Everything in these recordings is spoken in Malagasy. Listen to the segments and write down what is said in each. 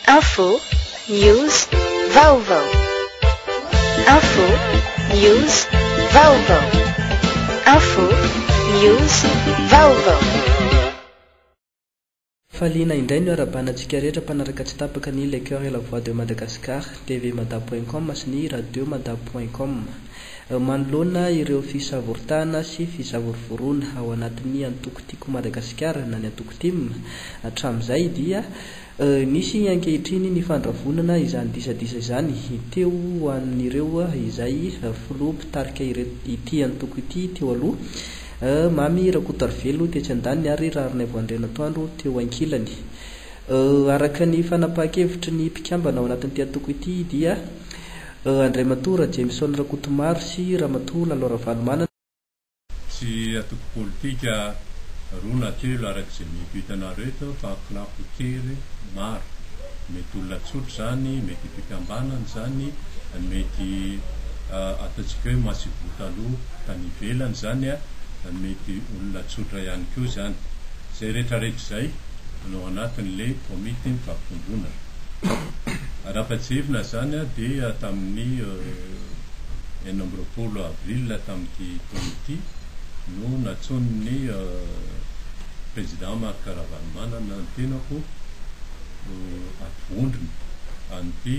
Info, news, vaovao. Info, news, vaovao. Info, news, vaovao. Faliana indray ny hoarabana antsika rehetra mpanaraka tsy tapaka ny Le Coeur et la Voix de Madagascar, tvmada point com sy ny Radiomada point com. Manoloana ireo fisavoritahana sy fisavorovoroana ao anatin'ny antoko Tiako Madagasikara na ny antoko tim, Hatramin'izay dia nisy ankehitriny ny fandravonana izany disadisa izany teo ho an'ireo izay filoha mpitarika ity antoko ity teo aloha, Mamy Rakotoarivelo tetsy andaniny ary Raharinaivo Andrianantoandro teo ankilany. Araka ny fanapahan-kevitry ny mpikambana ao anatin'ity antoko ity dia Andriamatoa Rajemison Rakotomaro sy Ramatoa Lalo Ravalomanana, Tsy antoko politika roa na telo araka izay mety ho hitanareo eto fa clans kely maro. Mety olona tsotra izany, mety ho fikambanana izany, mety ataontsika hoe massivou taloha tany ivelany izany, mety olona tsotra ihany koa izany. Izay rehetrarehetra izay no ao anatin'ilay komity mifampitomboina. Raha fa tsy hevina izany dia tamin'ny. enina amby roapolo avril tamin'ity taona ity no natsonin'ny Président Marc Ravalomanana ny tenako ho ato vondrona an'ity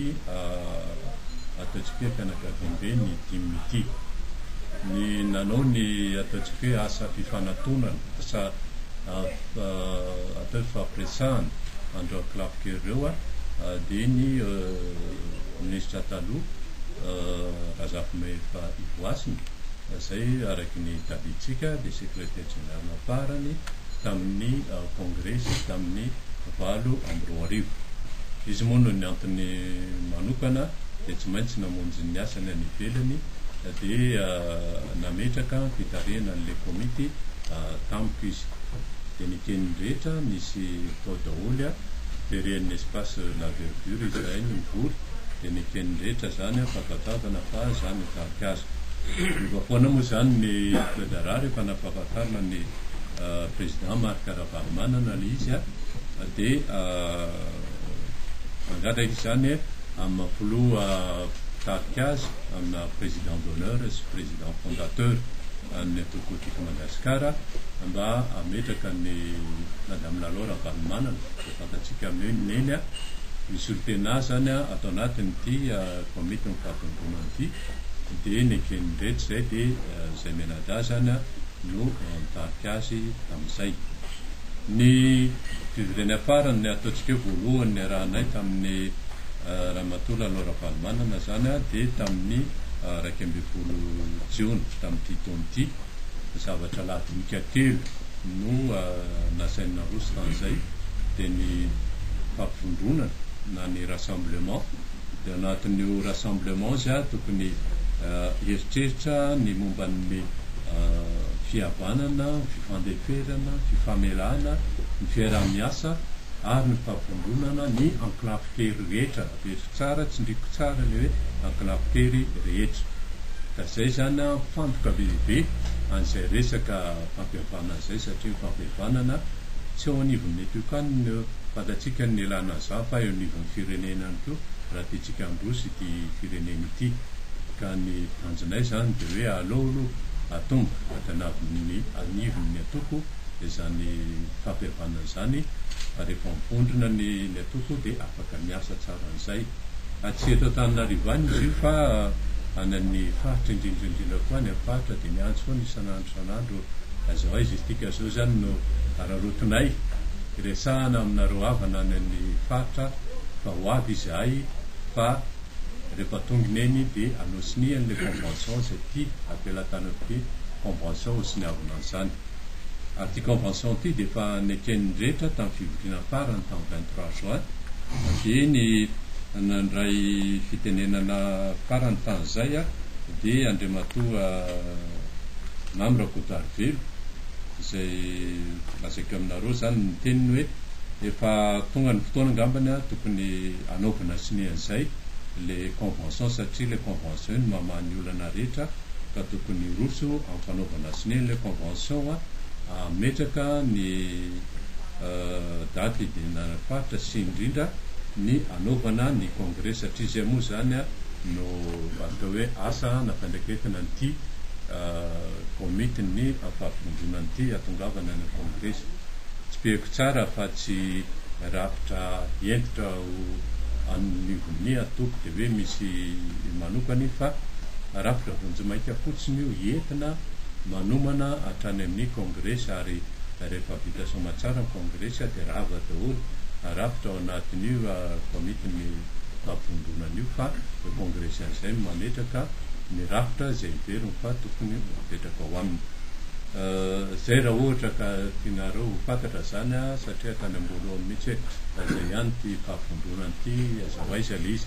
ataontsika hoe fianakaviambe ny dimy ity. Ny nanao ny ataontsika hoe asa fifanatonana, asa atao hoe fifampiresahana an'ireo ankilafika ireo dia ny Ministra taloha. Ivo Razafimahefa Ivohasina izay araka ny tadidintsika dia Secretaire Général farany tamin'ny Kongresy tamin'ny valo amby roa arivo. Izy moa noho ny antony manokana dia tsy maintsy namonjy ny asany any ivelany dia nametraka fitarihana an'ilay komity tamiko izy. Dia nikeny ny rehetra nisy tao daholo, very an'ny espace La Verdure izahay no nivory. dia niteny rehetra izany aho fa tadiavina fa izaho no tarika azy. Niova foana moa izany ny toe-draharaha rehefa nampahafantarina ny Président Marc Ravalomanana ilay izy dia nangataka izany amin'ny maha filoha mpitarika azy amina Président d'honneur sy Président fondateur an'ny antoko politika Madagasikara mba hametraka an'i Madame Lalao Ravalomanana fantatsika mino neny a, misy olon-tena zany a ato anatin'ity komitin'ny fahatomobonana ity dia neken'iretsy izay dia izay menada zany a no nitarika azy tamin'izay. Ny fivoriana farany ataontsika hoe voalohany niarahanay tamin'ny ramatoa Lalao Ravalomanana zany a dia tamin'ny iraika ambin'ny folo jiona tamin'ity taona ity. zavatra lahadinika telo no nasainy naroso tamin'izay, dia ny fampivondronana na ny rassemblement, dia ao anatin'io rassemblement izy ary tokony hieritreritra ny momba ny fihavanana, ny fifandeferana, ny fifamelana, ny fiaraha-miasa ary ny fampivondronana ny enclaves kely rehetra. Eto tsara tsindriko tsara le hoe ankinako tery rehetra ka zay zany an mifantoka be dia be an'izay resaka fampihavanana zay satria ny fampihavanana tsy eo anivon'ny eto ka no fantatsika ny nelan'aza fa eo anivon'ny firenena ihany koa raha tiantsika handroso ity firenena ity ka ny tanjonay zany de hoe aleo aloha atomboka avy anavon'ny anivon'ny atoko izany fampihavanana izany fa rehefa mivondrona ny Ny atoko dia afaka miasa tsara an'izay. Atsy eto Antananarivo any izy io fa any amin'ny faritra indrindra indrindra koa any amin'ny faritra dia miantso foana isan'andro isan'andro aiza ho aiza isika. Izao izany no araraotinay, iresahana aminareo havana any amin'ny faritra fa ho avy izahay fa rehefa tongina eny dia anosinihany ilay convention izay tia apelatanana ity convention hosoniavina an'izany. ary ity convention ity dia efa neken'ny rehetra tamin'ny fivoriana farany tamin'ny vingt trois juin dia ny nandray fitenenana farany tany izay dia Andriamatoa Mamy Rakotoarivelo izay lazaiko aminareo izany ny teniny hoe efa tonga ny fotoana angambany tokony hanaovana sonia an'izay ilay convention satria ilay convention iny mamaha ny olana rehetra ka tokony hiroso amin'ny fanaovana sonia ilay convention hametraka ny daty hidiranana faritra sy indrindra ny hanaovana ny congrès satria izay moa izany no atao hoe asa na fiandraiketana an'ity komitin'ny fampivondronana ity hahatongavana any amin'ny congrès. Tsipihiko tsara fa tsy rafitra hentitra an'ny vonia toby dia hoe misy manokany fa rafitra vonjimaika fotsiny io entina manomana hatrany amin'ny kongresy ary rehefa vita soama tsara ny kongresy dia rava daholo rafitra ao anatin'io komity ny fampivondronana io fa ny kongresy an'izay no mametraka ny rafitra izay heveriny fa tokony ho apetraka ao aminy izay raha ohatra ka tianareo ho fantatra izany satria hatrany am-boalohany Daholo mihitsy hoe aiza ihany ity fahavondronana ity, aiza ho aiza ilay izy.